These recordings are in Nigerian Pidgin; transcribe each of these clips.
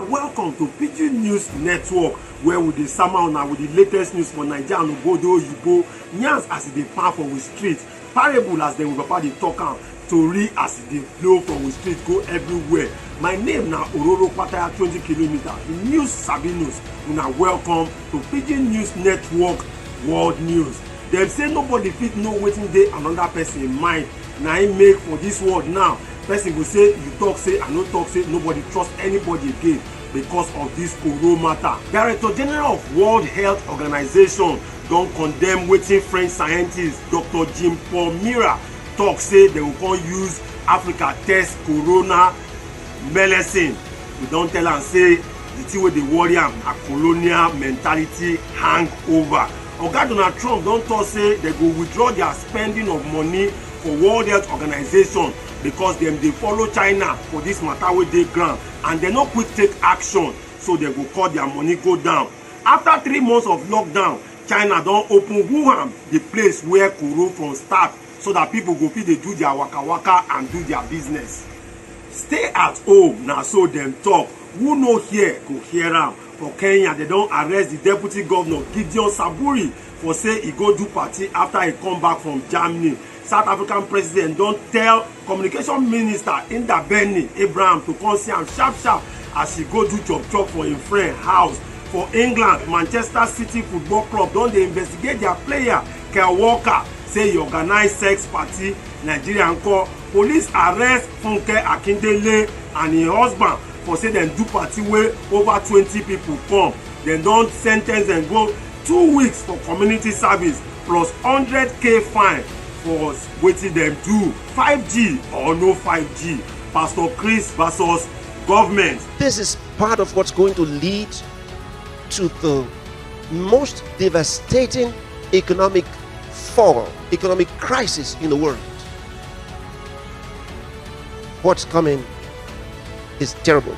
welcome to pidgin news network where we dey sama una with the latest news for naija and obodo oyibo yarns as e dey pan for we street parable as dem papa dey talk am tori as e dey blow for we street go everywhere my name na ororo pataya 20 kilometer the news sabi news una welcome to pidgin news network world news dem say nobody fit know wetin dey another person mind na im make for this world now person go say you talk say i no talk say nobody trust anybody again because of this koro matter director general of world health organization don condemn wetin french scientist dr jean paul mira talk say they go come use africa test corona medicine we don tell am say the thing wey dey worry am na colonial mentality hangover oga donald trump don talk say they go withdraw their spending of money for world health organization because dem dey follow china for this matter wey dey ground and dem no quick take action so dem go cut their money go down after three months of lockdown china don open wuhan the place where koro from start so that people go fit dey do their waka waka and do their business stay at home na so dem talk who no hear go hear am for kenya dem don arrest the deputy governor gideon saburi for say e go do party after e come back from germany south african president don tell communication minister ndabeni abraham to come see am sharp sharp as he go do chop chop for im friend house for england manchester city football club don dey investigate their player kyle walker say he organise sex party nigeria nko police arrest funke akindele and im husband for say dem do party wey over twenty people come dem don sen ten ce dem go two weeks for community service plus hundred k fine for wetin dem do 5g or no 5g pastor chris versus government. this is part of what's going to lead to the most devastating economic fall, economic crisis in the world. What's coming is terrible.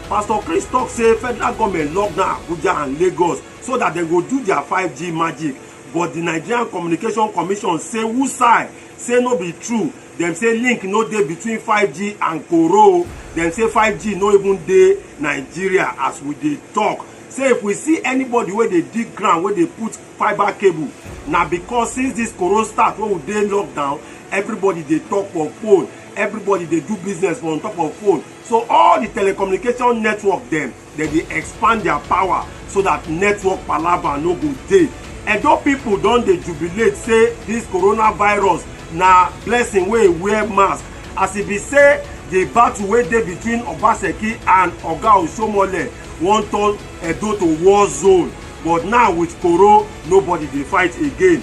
Pastor Chris talk say federal government lock down Abuja and Lagos so that they go do their 5G magic. but di nigerian communication commission say wusai say no be true dem say link no dey between 5g and koro dem say 5g no even dey nigeria as we dey talk. say if we see anybody wey dey dig ground wey dey put fiber cable na because since this koro start wey we dey lockdown everybody dey talk for phone everybody dey do business for on top of phone so all the telecommunication network dem dem dey expand their power so that network palava no go dey edo people don dey jubilate say this coronavirus na blessing wey wear mask as e be say the battle wey dey between obaseki and oga osomole wan turn edo to war zone but now with koro nobody dey fight again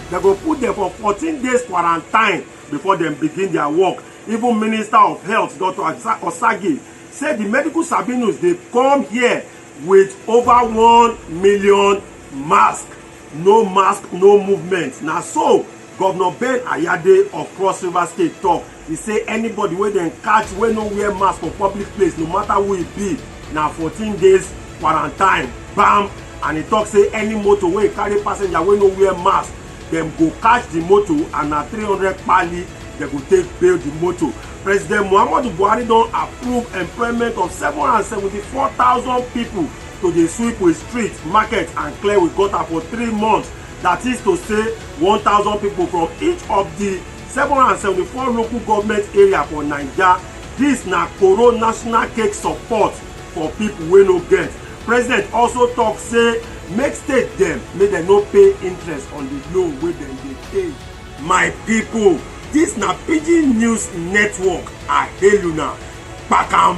dem go put dem for 14 days quarantine before dem begin their work even minister of health dr osagi say di medical sabinus dey come here with over 1 million mask no mask no movement na so govnor ben ayade of cross river state tok He say anybody wey dem catch wey no wear mask for public place no matter who e be na 14 days quarantine bam and he talk say any motor wey carry passenger wey no wear mask dem go catch the motor and na 300 kpali dem go take bail the motor. President Muhammadu Buhari don approve employment of 774,000 people to dey sweep with street, market and clear with gutter for three months that is to say 1,000 people from each of the 774 local government area for naija dis na koro national cake support for pipo wey no get president also tok say make state dem make dem no pay interest on di loan wey dem dey pay my pipo dis na pidgin news network i hail una kpakam